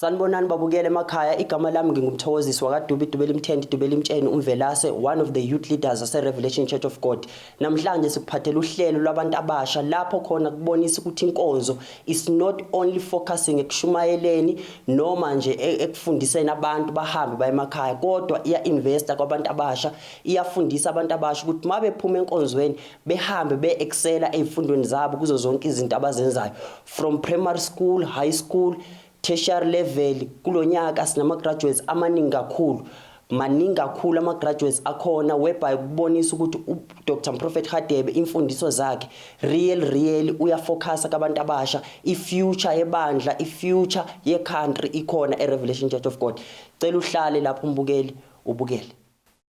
Sanibonani babukele emakhaya igama lami ngingumthokozisi wakaDubi Dubeli Mthenti Dubeli Mtsheni uMvelase one of the youth leaders ase Revelation Church of God namhlanje sikuphathela uhlelo lwabantu abasha lapho khona kubonisa ukuthi inkonzo is not only focusing ekushumayeleni noma nje e-, ekufundiseni abantu bahambe baye emakhaya kodwa iya investa kwabantu abasha iyafundisa abantu abasha ukuthi mabephuma enkonzweni behambe beexcela ezifundweni zabo kuzo zonke izinto abazenzayo from primary school high school tertiary level kulo nyaka sinama-graduates amaningi kakhulu maningi kakhulu ama-graduates akhona whereby kubonisa ukuthi udr mprofet hadebe imfundiso zakhe real real uyafocusa kabantu abasha i-future yebandla i-future ye-country ikhona e-revelation church of god cela uhlale lapho umbukeli ubukele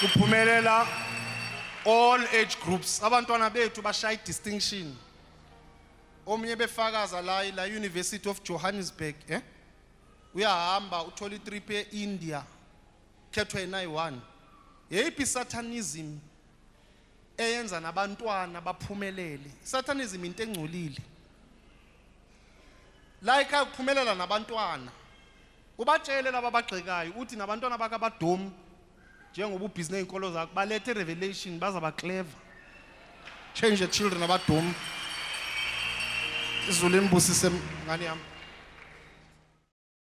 kuphumelela all age groups abantwana bethu bashaya i-distinction omunye befakaza la la University of Johannesburg eh uyahamba uthola i-trip e-India khethwa yena yi-one yeyiphi satanism eyenza nabantwana baphumelele satanism into engcolile la ekhaya kuphumelela nabantwana ubatshele laba abagxekayo uthi nabantwana bakabadomu njengoba ubhizi ney'nkolo zakho balethe revelation bazaba clever change the children abadomu izulu imbusise ngane yami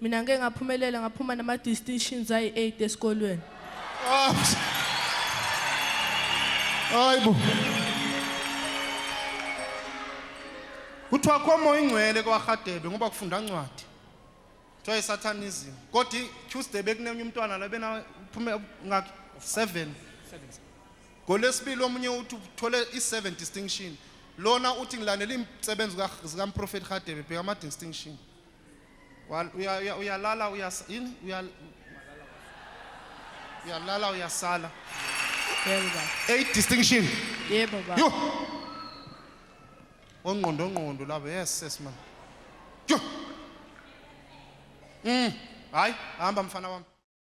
Mina ngeke ngaphumelela ngaphuma nama distinctions ayi8 esikolweni. Ah. Hayibo. Kuthiwa komo ingcwele kwaHadebe ngoba kufunda incwadi. Kuthiwa isatanism. Kodwa Tuesday bekunenye umntwana la bena uphume ngakhe 7. Ngolesibili omunye uthi uthole i7 distinction. Lona uthi ngilandela izisebenzi zikaMprofeti Hadebe bheka ama distinction. Wa- uya- uya- uyalala uyas- yini? Uya- uyalala uyasala Yebo baba. eight distinction Yebo baba. yo ongqondo ongqondo laba yes yes man yo mm hayi hamba mfana wami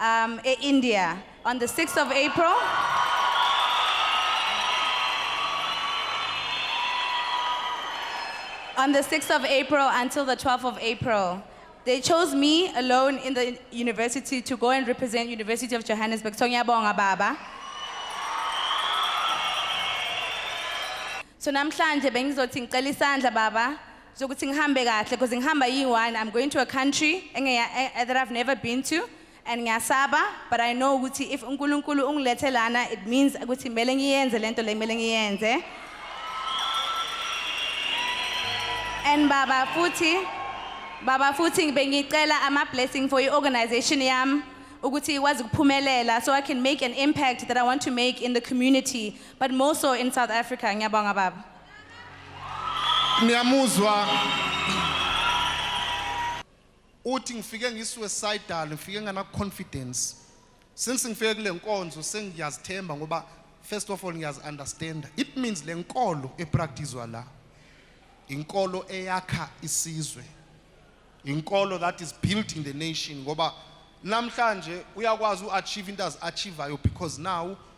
um, e-India on the 6th of April. on the 6th of April until the 12th of April. They chose me alone in the university to go and represent University of Johannesburg. So ngiyabonga baba. So namhlanje bengizothi ngicela isandla baba zokuthi ngihambe kahle because ngihamba yi-one i'm going to a country engeya- eh, eh, that i've never been to and ngiyasaba but i know ukuthi if unkulunkulu ungilethe lana it means ukuthi kumele ngiyenze le nto le kumele ngiyenze and baba futhi baba futhi bengicela ama-blessing for i-organization yami ukuthi ikwazi ukuphumelela so i can make an impact that i want to make in the community but more so in south africa ngiyabonga baba niyamuzwa uthi ngifike ngisuicidal ngifike ngana confidence since ngifike kule nkonzo sengiyazithemba ngoba first of all ngiyazi understand it means le nkolo epracticewa la inkolo eyakha isizwe inkolo that is building the nation ngoba namhlanje uyakwazi uachieve into aziachievayo because now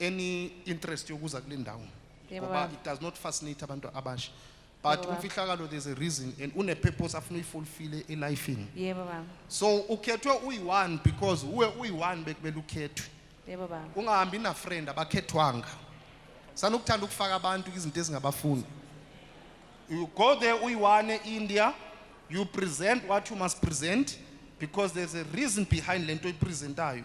any interest yokuza kule ndawo Yebo, ngoba baba. it does not fascinate abantu abasha but Yebo, baba. umfihlakalo there's a reason and une-purpose afuna uyifulfile elifini yebo baba so ukhethwe uyi-one because uwe uyi-one bekumele ukhethwe yebo baba ungahambi nafriend abakhethwanga sanokuthanda ukufaka abantu izinto ezingabafuni you go there uyi-one e-india you present what you must present because there's a reason behind le nto oyipresentayo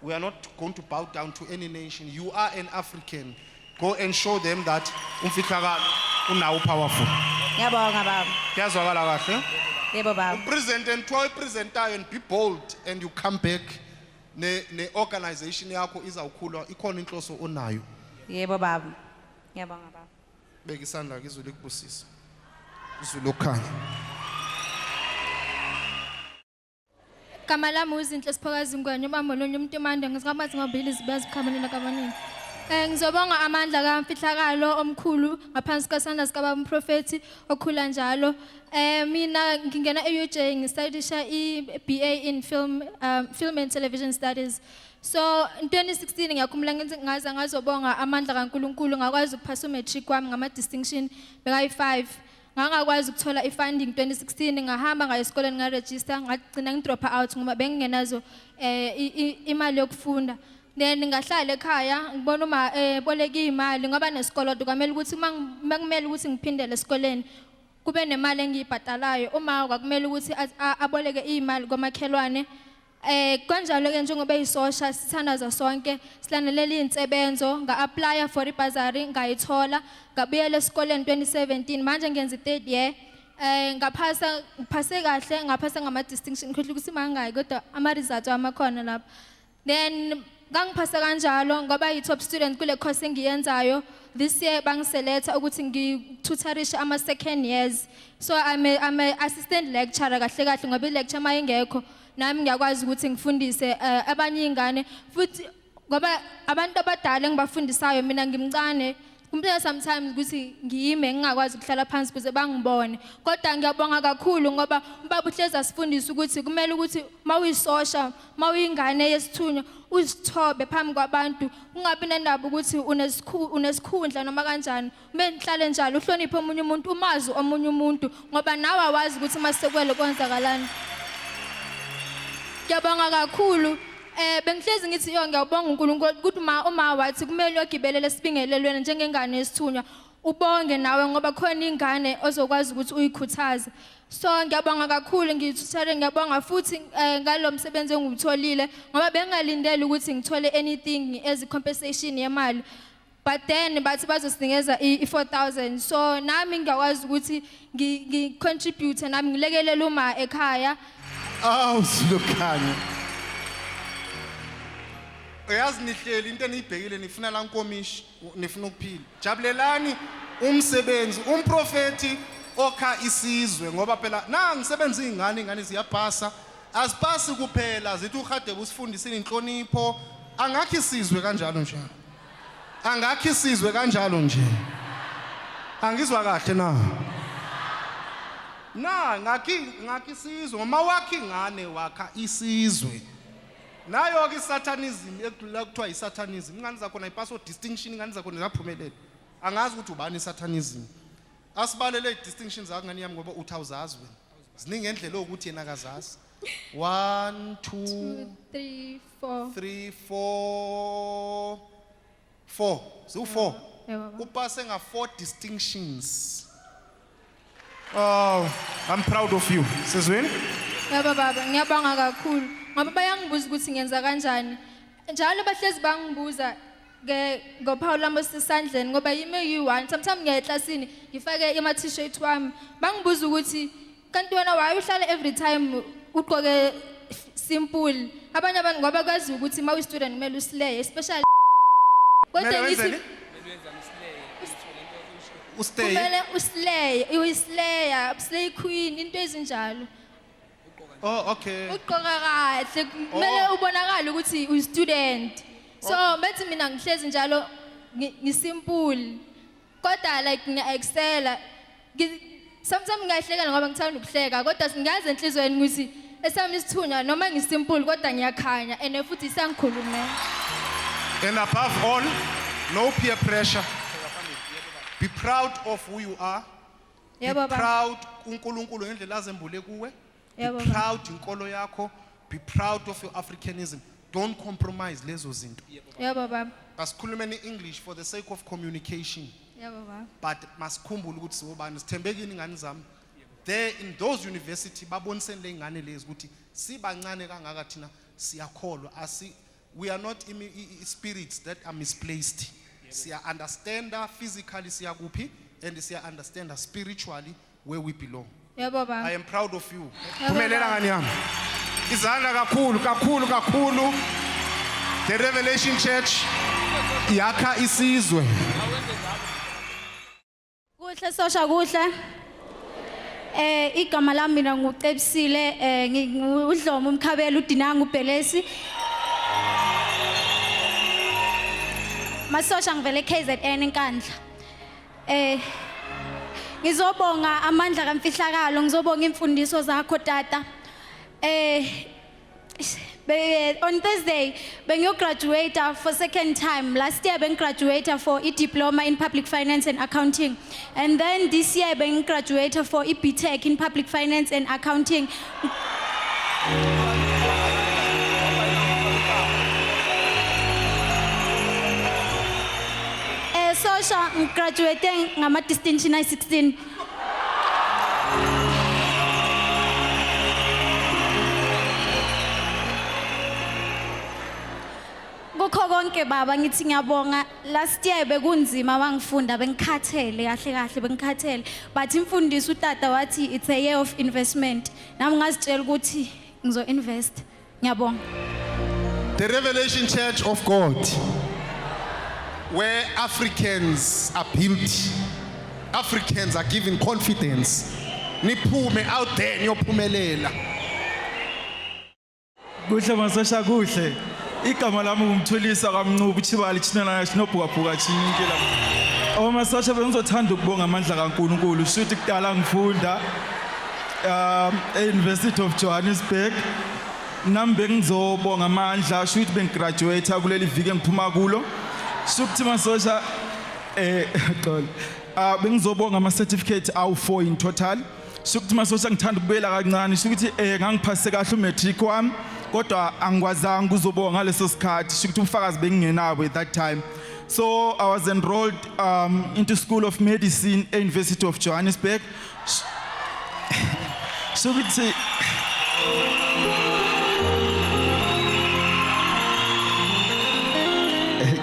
We are not going to bow down to any nation. You are an African. Go and show them that umfihlakalo unawo powerful. Ngiyabonga baba. Kuyazwakala kahle. Yebo baba. Present and try presentayo and be bold and you come back ne ne organization yakho izawukhula ikhona inhloso onayo. Yebo baba. Ngiyabonga baba. Beka isandla kizulu ikubusisa. Izulu okhanya. Igama lami uzinhle Siphokazi Ngwenya ubambo lonye umuntu emande ngisikamathi ngobili zibaziqhamulela kabaningi. Eh ngizobonga amandla kamfihlakalo omkhulu ngaphansi kwesandla sikababa umprofeti okhula njalo. Eh mina ngingena eUJ ngistudisha iBA in film um, film and television studies. So in 2016 ngiyakhumbula ngithi ngaze ngazobonga amandla kaNkuluNkulu ngakwazi ukuphasa umatric wami ngama distinction bekayi 5. Ngangakwazi ukuthola i-funding 2016 ngahamba ngayo esikoleni ngaregister ngagcina ngidrop out ngoba bengingenazo eh i- i- imali yokufunda. Then ngahlala ekhaya ngibona uma eh boleka imali ngoba nesikoloto kwamele ukuthi uma ngi- uma kumele ukuthi ngiphindele esikoleni kube nemali engiyibhadalayo uma kwakumele ukuthi a- a- aboleke imali komakhelwane Eh kanjalo ke njengoba isosha sithandaza sonke silandelela izinsebenzo nga apply for ibhazari ngayithola ngabuyela esikoleni 2017 manje ngenza i3rd year eh ngaphasa ngiphase kahle ngaphasa ngama distinction ngikhohle ukuthi mangaki kodwa ama results amakhona lapha then Ngangiphase kanjalo ngoba yi-top student kule course engiyenzayo. This year bangiseletha ukuthi ngitutharishe ama second years. So I'm a, I'm a assistant lecturer kahle kahle ngoba i-lecture uma ingekho nami ngiyakwazi ukuthi ngifundise eh, abanye iy'ngane futhi ngoba abantu abadala engibafundisayo mina ngimncane Kumpela sometimes ukuthi ngiyime ngingakwazi ukuhlala phansi kuze bangibone. Kodwa ngiyabonga kakhulu ngoba ubaba uhlezi asifundisa ukuthi kumele ukuthi mawuyisosha, mawuyingane yesithunywa uzithobe phambi kwabantu ungabi nendaba ukuthi unesikhundla noma kanjani. Kumele nihlale njalo uhloniphe omunye umuntu, umazi omunye umuntu ngoba nawe awazi ukuthi masekuwele kwenzakalani. Ngiyabonga kakhulu. Eh bengihlezi ngithi yo ngiyabonga uNkulunkulu ukuthi uma uma wathi kumele ogibelele sibingelelweni njengengane esithunywa ubonge nawe ngoba khona ingane ozokwazi ukuthi uyikhuthaze so ngiyabonga kakhulu ngithuthele ngiyabonga futhi eh, ngalo msebenzi engiwutholile ngoba bengingalindele ukuthi ngithole anything as compensation yemali but then bathi bazosinikeza i- i-4000 so nami ngiyakwazi ukuthi ngi- ngi-contribute nami ngilekelele uma ekhaya awu silokhanya uyazi nihleli into eniyibhekile nifuna la nkomishi nifuna ukuphila jabulelani umsebenzi umprofethi okha isizwe ngoba phela na ngisebenza iy'ngane iy'ngane ziyapasa azipasi kuphela zithi urhadebe usifundisile inhlonipho angakho isizwe kanjalo njalo Angakhi sizwe kanjalo nje. Angizwa kahle na. Na ngakhi ngakhi sizwe ngoma wakhi ngane wakha isizwe. Nayo ke satanism ekudlula kuthiwa isatanism. Ingane zakho nayipaso distinction ingane zakho nezaphumelela. Angazi ukuthi ubani isatanism. Asibalele idistinctions zakho ngane yami ngoba uthi awuzazi wena. Ziningi ngendlela ukuthi yena akazazi. 1 2 3 Four. three four four ziwu-four Eh, baba. upase nga-four distinctions Oh, I'm proud of you. Sizweni? Yebo baba, ngiyabonga kakhulu. Ngoba bayangibuza ukuthi ngenza kanjani. Njalo bahlezi bangibuza ke ngophawu lami osesandleni ngoba yimi eyi-one. Sometimes ngiya eklasini ngifake ama-t-shirt wami. Bangibuza ukuthi kanti wena waye uhlale every time ugqoke simple abanye abantu ngoba kwazi ukuthi uma uyi-student kumele usileye especially kodwa Kumele ngithi wenzeni? Ustay. kumele usileye uyisileya usileye queen into ezinjalo Oh, okay. ugqoka kahle kumele Oh. ubonakale ukuthi uyi-student so bethi mina ngihlezi njalo ngi- ngisimpule kodwa like ngiya-excela Ngi- sometimes ngiyahlekela ngoba ngithanda ukuhleka kodwa singazi enhliziyweni ukuthi esami isithunywa noma ngisimpulu kodwa ngiyakhanya and futhi isangikhulumela And above all, no peer pressure. Be proud of who you are. Be Yebo, baba. proud uNkulunkulu ngendlela azembule kuwe. be Yebo, baba. proud inkolo yakho be proud of your africanism don't compromise lezo zinto Yebo baba. asikhulumeni english for the sake of communication Yebo baba. but masikhumbule ukuthi siwobani sithembekini ingane zami there in those university baboniseni ley'ngane lezi ukuthi sibancane kangaka thina siyakholwa asi we are not imi- i- i- spirits that are misplaced siya-understanda physically siyakuphi and siya-understanda spiritually where we belong. Yebo I baba. am proud of you. Yebo, Phumelela baba. ngani yami. Izandla kakhulu kakhulu kakhulu. The Revelation Church yakha isizwe. Kuhle sosha kuhle. Eh igama lami mina ngucebisile eh ngudlomo umkhabela udinanga ubhelesi. Masosha ngivele KZN enkandla. Eh ngizobonga amandla kamfihlakalo ngizobonga imfundiso zakho tata. Eh be, on Thursday bengiyograduate for second time. Last year bengigraduate for a diploma in public finance and accounting. And then this year bengigraduate for a BTEC in public finance and accounting. Eh sosha ngigraduate ngama distinction ay 16. Kukho konke baba ngithi ngiyabonga Last year bekunzima wangifunda bengikhathele kahle kahle bengikhathele but imfundisi utata wathi it's a year of investment nami ngazitshela ukuthi ngizo invest ngiyabonga The Revelation Church of God where Africans are built Africans are given confidence niphume out there niyophumelela kuhle masosha kuhle igama lami ngumthulisa kamncubu chibali chinelana chinobhukabhuka chinyikela omasosha bengizothanda ukubonga amandla kankulunkulu shuthi kudala ngifunda um e-university of johannesburg nami bengizobonga amandla shuthi bengigraduate kuleli viki engiphuma kulo shukuthi masosha eh xolo ah bengizobonga ama certificate awu 4 in total Sukuthi masosha ngithanda ukubuyela kancane sukuthi eh ngangiphase kahle umatric wami kodwa angikwazanga ukuzoboka ngaleso sikhathi sukuthi ubufakazi bengingenabo at that time. So I was enrolled um into School of Medicine e University of Johannesburg. Sukuthi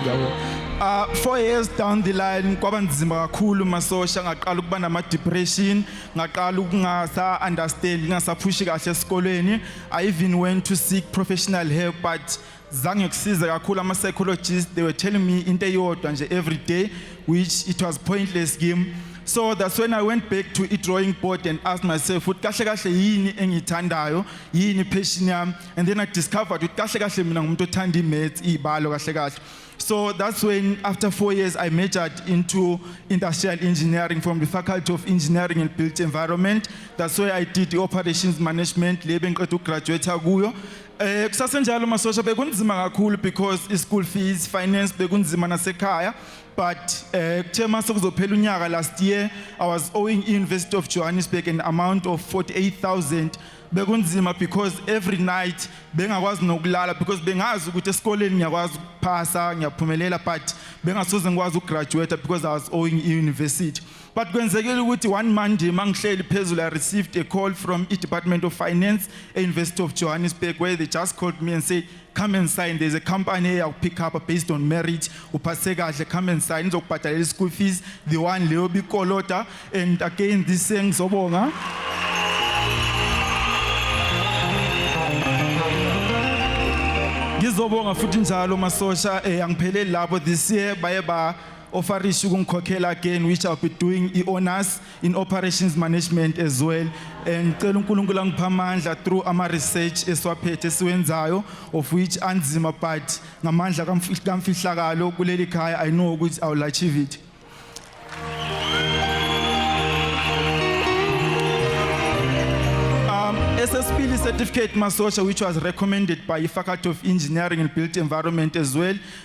Yabo. Uh, four years down the line kwaba nzima kakhulu masosha ngaqala ukuba nama-depression ngaqala ukungasa-understand ngingasaphushi kahle esikolweni i even went to seek professional help but zange kusize kakhulu ama-psychologist they were telling me into eyodwa nje every day which it was pointless game so that's when i went back to i-drawing board and asked myself ukuthi kahle kahle yini engiyithandayo yini ipassion yami and then i discovered ukuthi kahle kahle mina ngumuntu othanda i-maths iy'balo kahle kahle So that's when, after four years, I majored into industrial engineering from the Faculty of Engineering and Built Environment. That's where I did the operations management, le bengiqeda ukugraduate kuyo. Eh kusasenjalo masosha bekunzima kakhulu because i school fees, finance bekunzima nasekhaya. But eh kuthe mase kuzophela unyaka last year, I was owing University of Johannesburg an amount of 48,000 bekunzima because every night bengakwazi nokulala because bengazi ukuthi esikoleni ngiyakwazi ukuphasa ngiyaphumelela but bengasoze ngikwazi ukugraduate because I was owing university but kwenzekile ukuthi one monday mangihleli phezulu i received a call from i department of finance e university of johannesburg where they just called me and said come and sign there's a company eya pick up based on merit uphase kahle come and sign izokubhadalela i-school fees the one leyo bikolota and again this saying ngizobonga ngizobonga futhi njalo masosha eh, angipheleli lapho this year baye ba ofarisha ukungikhokhela again which i'll be doing i-honors in operations management as well and cela uNkulunkulu angipha amandla through ama research esiwaphethe siwenzayo of which anzima but ngamandla kamfihlakalo kuleli khaya i know ukuthi i will achieve it um SSPL certificate masosha which was recommended by faculty of engineering and built environment as well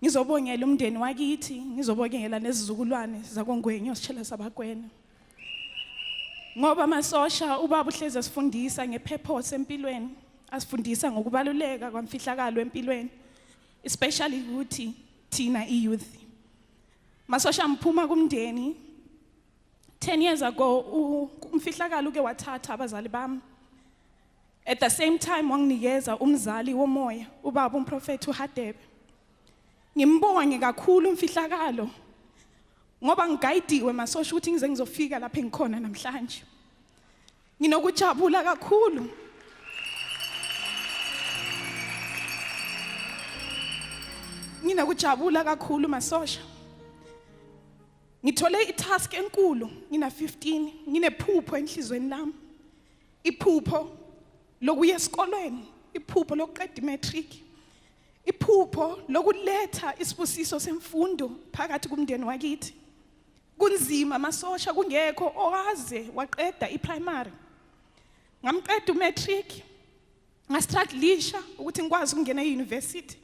Ngizobongela umndeni wakithi, ngizobongela nezizukulwane zakongwenyo sishela sabakwena. Ngoba amasosha ubaba uhlezi asifundisa ngepurpose empilweni, asifundisa ngokubaluleka kwamfihlakalo empilweni, especially ukuthi thina iyouth. Masosha mphuma kumndeni 10 years ago umfihlakalo uke wathatha abazali bami At the same time wanginikeza umzali womoya ubaba umprofethi uHadebe. Ngimbonge kakhulu umfihlakalo ngoba ngigayidiwe masosha ukuthi ngize ngizofika lapha engikhona namhlanje. Nginokujabula kakhulu. Nginokujabula kakhulu masosha. Ngithole i-task enkulu ngina 15 nginephupho enhlizweni lami. iphupho lokuya esikolweni iphupho lokuqeda imatric iphupho lokuletha isibusiso semfundo phakathi kumndeni wakithi kunzima amasosha kungekho owaze waqeda iprimary ngamqeda umatric ngastruglisha ukuthi ngikwazi ukungena e-university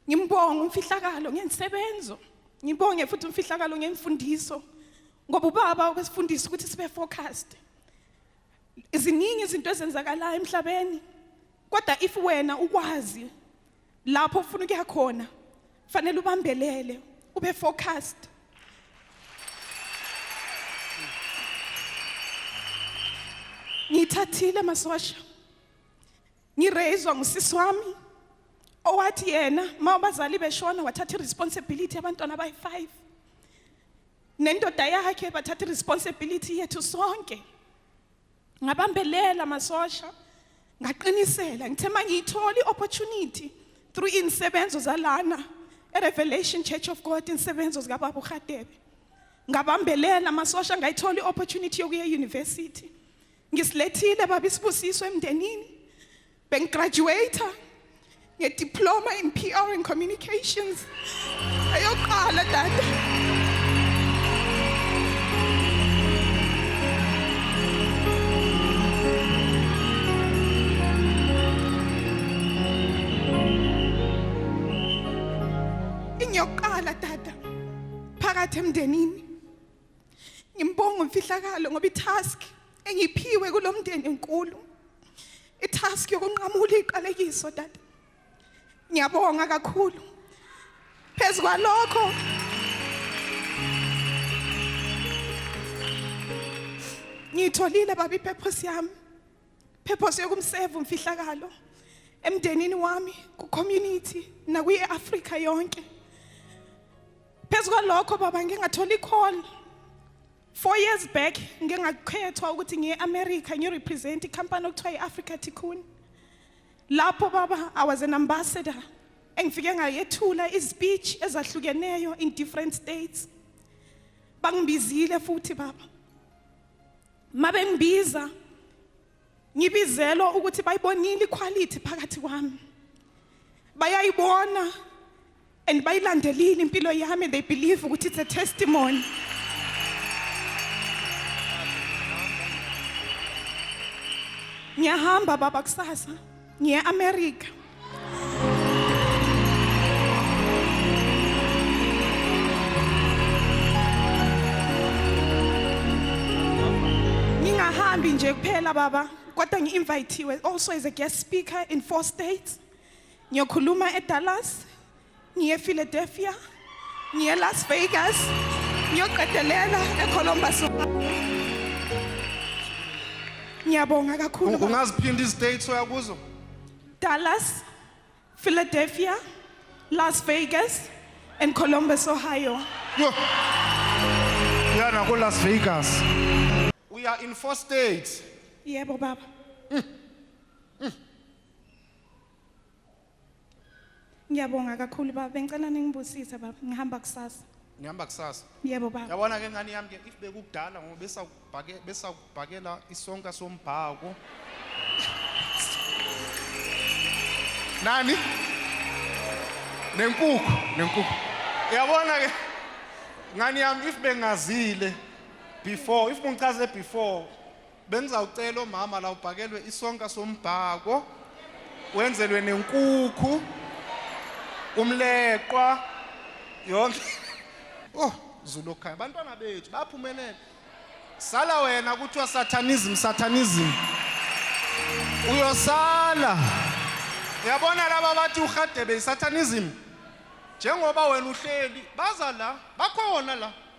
ngimbonga umfihlakalo ngensebenzo ngibonge futhi umfihlakalo ngemfundiso ngoba ubaba wesifundisa ukuthi sibe focused iziningi izinto ezenzakalayo emhlabeni kodwa if wena ukwazi lapho ufuna ukuya khona Fanele ubambelele, ube focused. Ngithathile masosha. Ngireyizwa ngusisi wami owathi yena ma abazali beshona wathatha iresponsibility yabantwana abayi-5 nendoda yakhe bathatha iresponsibility yethu sonke ngabambelela masosha ngaqinisela ngithe mangiyithola i-opportunity through insebenzo zalana eRevelation Church of God insebenzo zikababa uHadebe ngabambelela amasosha ngayithola i-opportunity yokuya e-university ngisilethile baba isibusiso emndenini bengigraduate ngediploma in PR and communications ayoqala dada ingiyoqala dada phakathi emndenini ngimbonga umfihlakalo ngoba itask engiphiwe kulomndeni enkulu itask yokunqamula iqalekiso dade ngiyabonga kakhulu phezu kwalokho ngiyitholile baba ipurpose yami purpose yokumseva umfihlakalo emndenini wami ku-community nakwi-afrika yonke phezu kwalokho baba ngingathola i-call Four years back ngike ngakhethwa ukuthi ngiye America ngirepresent icompany okuthiwa i-Africa Tikkun. Lapho baba I was an ambassador engifike ngayethula izispeech ezahlukeneyo in different states. Bangibizile futhi baba. Mabengibiza ngibizelwa ukuthi bayibonile iquality phakathi kwami bayayibona and bayilandelile impilo yami they believe ukuthi it's a testimony ngiyahamba baba kusasa ngiye America ngingahambi nje kuphela baba kodwa ngi-invithiwe also as a guest speaker in four states ngiyokhuluma edallas ngiye Philadelphia ngiye Las Vegas ngiyoqedelela eColumbus ngiyabonga kakhulu baba. ungaziphinda izitate oyakuzo Dallas Philadelphia Las Vegas and Columbus Ohio Yo. uya nakolas vegas uya in four states yebo baba Ngiyabonga kakhulu baba bengicela ningibusise baba ngihamba kusasa. Ngihamba kusasa. Yebo baba. Yabona ke ngani yami ke if bekukudala ngoba besakubhake besakubhakela isonka sombhako. Nani? Nenkukhu, nenkukhu. Yabona ke ngani yami if bengazile before if ungichaze before Bengizawucela omama la ubhakelwe isonka sombhako wenzelwe nenkukhu umleqwa yonke oh Zulu okhaya abantwana bethu baphumelela sala wena kuthiwa satanism satanism uyosala yabona laba bathi uhadebe isatanism njengoba wena uhleli baza la bakhona la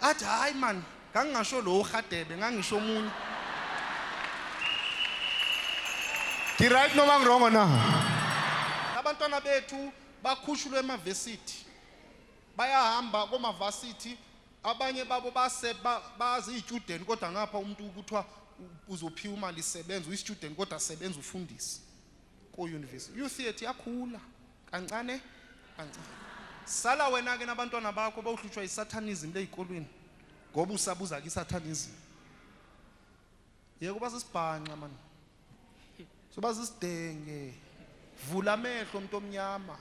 athi hayi man ngangingasho lo uhadebe ngangisho omunye ngiright noma ngirongo na abantwana bethu bakhushulwe emavesithi bayahamba komavasithi abanye babo base baziyitshudeni kodwa ngapha umuntu kuthiwa uzophiwa imali isebenza uyistudent kodwa sebenza ufundisi ko-university i-youth yethu yakhula Kancane, kancane. Sala wena-ke nabantwana bakho bawuhlutshwa yiSathanism leyikolweni ngoba usabuza kiSathanism. Yeka uba sisibhanxa mani. Soba sisidenge. Vula amehlo umuntu omnyama.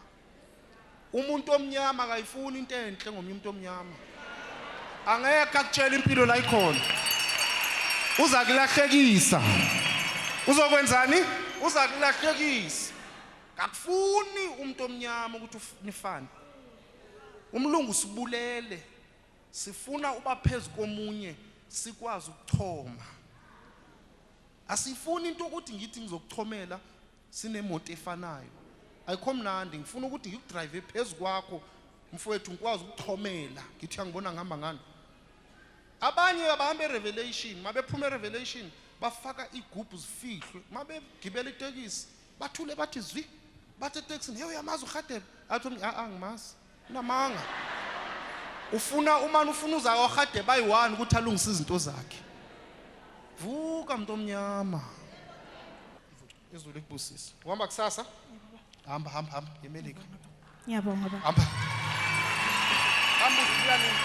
Umuntu omnyama akayifuni into enhle ngomunye umuntu omnyama. Angeke akutshela impilo la ikhona. Uza kulahlekisa. Uzokwenzani? Uza kulahlekisa. Kakufuni umuntu omnyama ukuthi nifane. Umlungu sibulele. Sifuna uba phezu komunye sikwazi ukuchoma. Asifuni into ukuthi ngithi ngizokuchomela sinemoto efanayo. Ayikho mnandi ngifuna ukuthi ngikudrive phezu kwakho mfowethu ngikwazi ukuchomela ngithi angibona ngihamba ngani. Abanye abahamba eRevelation mabephuma eRevelation bafaka igubhu zifihlwe mabegibela itekisi bathule bathi zwi bathe taxini hey uyamazi uRhadebe athi umntu a angimazi unamanga ufuna umani ufuna uza kwaRhadebe bayi-one ukuthi alungise izinto zakhe vuka mntu omnyama izulu likubusise uhamba kusasa hamba hamba hamba yemelika ngiyabonga baba hamba hamba uzibuya nini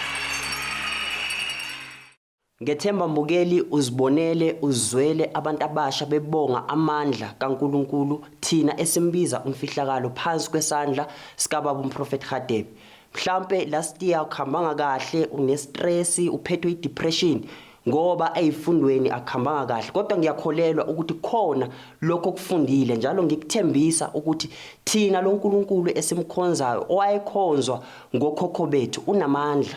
Ngethemba mbukeli uzibonele uzwele abantu abasha bebonga amandla kaNkulunkulu thina esimbiza umfihlakalo phansi kwesandla sikababa umprofethi Hadebe. Mhlampe last year ukhambanga kahle unestress uphethwe idepression ngoba ezifundweni akuhambanga kahle kodwa ngiyakholelwa ukuthi khona lokho okufundile njalo ngikuthembisa ukuthi thina loNkulunkulu esimkhonzayo owayekhonzwa ngokhokho bethu unamandla